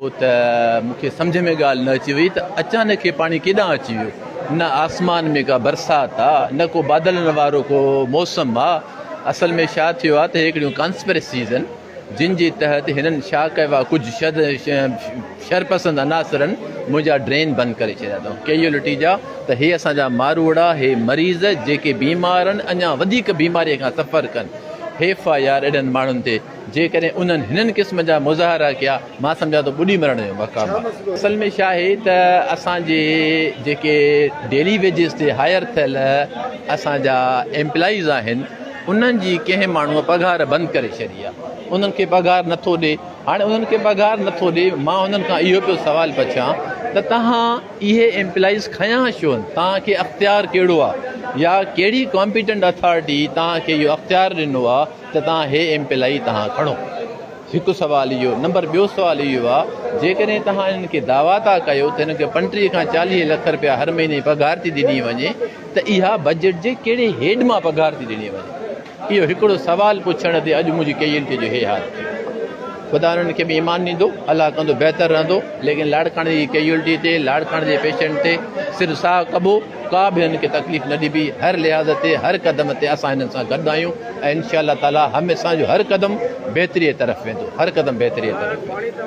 ڇو ته مون کي سمجهه ۾ ڳالهه نه اچي وئي ته اچانڪ هي پاڻي ڪيڏانهن اچي ويو. نه آسمان ۾ ڪا برسات آ، نه ڪو بادلن وارو ڪو موسم آ. اصل ۾ ڇا ٿيو آ ته هي هڪڙيون ڪانسپريسيز هن، جن جي تحت هنن ڇا ڪيو آ ڪجهه شد شرپسند عناصرن منهنجا ڊرين بند ڪري ڇڏيا اٿئون، ڪي اهو لٽي جا ته هي اسان جا ماروئڙا، هي مريض جيڪي بيمار آهن، اڃا وڌيڪ بيماريء کان سفر ڪن، هيف آ يار اهڙن ماڻهن تي. جيڪڏهن انهن هنن قسم جا مظاهرا ڪيا مان سمجهان ٿو ٻڏي مرڻ جو مقام آهي. اصل ۾ ڇا آهي ته اسان جي جيڪي ڊيلي ويجز تي هائر ٿيل اسان جا ايمپلائيز آهن انهن جي ڪنهن ماڻهو پگهار بند ڪري ڇڏي آهي انهن کي پگهار نٿو ڏي هاڻي انهن کي پگهار نٿو ڏي مان انهن کان اهو پيو سوال پڇان ته توهان اهي ايمپلائيز کنيا ڇو آهن توهان کي اختيار ڪهڙو آهي يا ڪهڙي ڪامپيٽنٽ اٿارٽي توهان کي اهو اختيار ڏنو آهي ته تان هي ايم پي لائي تهان کڻو هڪ سوال اهو نمبر ٻيو سوال اهو آ جيڪڏهن تهان انهن کي دعويٰ ٿا ڪيو ته انهن کي پنٽيهه کان چاليهه لک رپيا هر مهيني جي پگهار ٿي ڏني وڃي ته اها بجيٽ جي ڪهڙي هيڊ مان پگهار ٿي ڏني وڃي اهو هڪڙو سوال پڇڻ تي اڄ منهنجي ڪيئي انٽي جو هي حال ٿيو خدا انهن کي به ايمان ڏيندو الله ڪندو بهتر رهندو ليڪن لاڙڪاڻي جي ڪيئي الٽي تي لاڙڪاڻي جي پيشنٽ تي صرف ساهه ڪبو ڪا به هن کي تڪليف نه ڏبي، هر لحاظ تي، هر قدم تي اسان هنن سان گڏ آهيون ۽ انشاء الله تعاليٰ هم اسان جو هر قدم بهتريء طرف ويندو، هر قدم بهتريء طرف ويندو.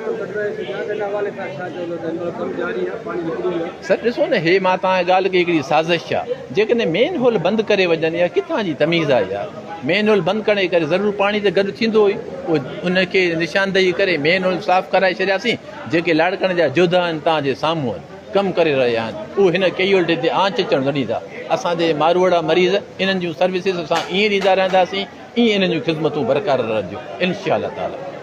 سر ڏسو نه هي مان توهان کي ڳالهه ڪئي هڪڙي سازش آ، جيڪڏهن مين هول بند ڪري وڃن اها ڪٿان جي تميز آ يار، مين هول بند ڪرڻ جي ڪري ضرور پاڻي ته گڏ ٿيندو ئي، پوء ان کي نشاندهي ڪري مين هول صاف ڪرائي ڇڏياسين، جيڪي لاڙڪاڻي جا جوڌا آهن توهان جي سامهون آهن. ڪم ڪري رهيا آهن اهو هن ڪيئيولٽي تي آنچ اچڻ نه ڏيندا اسان جي ماروئڙا مريض انهن جون سروسز اسان ائين ڏيندا رهنداسين ائين انهن جون خدمتون برقرار رهنديون انشاء الله تعالي.